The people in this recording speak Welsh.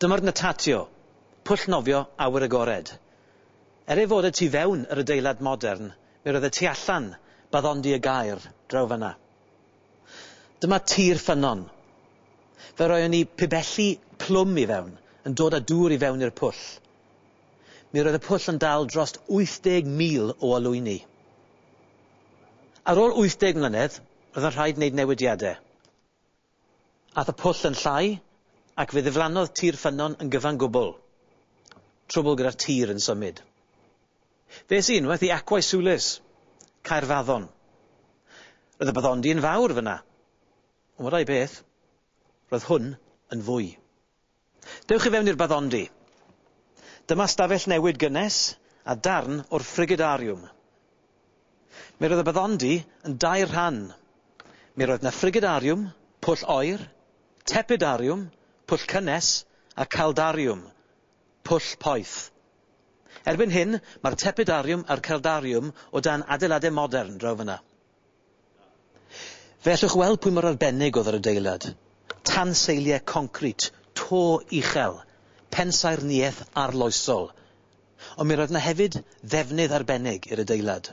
Dyma'r Natatio, pwll nofio awyr agored. Er ei fod y tu fewn yr adeilad modern, mi roedd y tu allan, baddondi y gair, draw fan'na. Dyma Tir Ffynnon. Fe roeon ni pibelli plwm i fewn, yn dod â dŵr i fewn i'r pwll. mi roedd y pwll yn dal drost 80,000 o olwyni. Ar ôl 80 mlynedd, roedd yn rhaid wneud newidiadau. Aeth y pwll yn llai ac fe ddiflannodd tir ffynnon yn gyfan gwbl. Trwbl gyda'r tir yn symud. Fe es i unwaith i Aquae Sulis, Caerfaddon. Roedd y baddondy yn fawr fan'na. Ond rai beth, roedd hwn yn fwy. Dewch i fewn i'r baddondy. Dyma stafell newid gynnes a darn o'r frigidariwm. Mi roedd y baddondy yn dair rhan. Mi roedd na frigidariwm, pwll oer, tepidariwm, pwll cynnes, a caldariwm, pwll poeth. Erbyn hyn, mae'r tepidariwm a'r caldariwm o dan adeilade modern draw fyna. Fe allwch weld pwy mor arbennig oedd yr adeilad, tanseiliau concrit, to uchel, pensaernïaeth arloesol, ond mi roedd 'na hefyd ddefnydd arbennig i'r adeilad.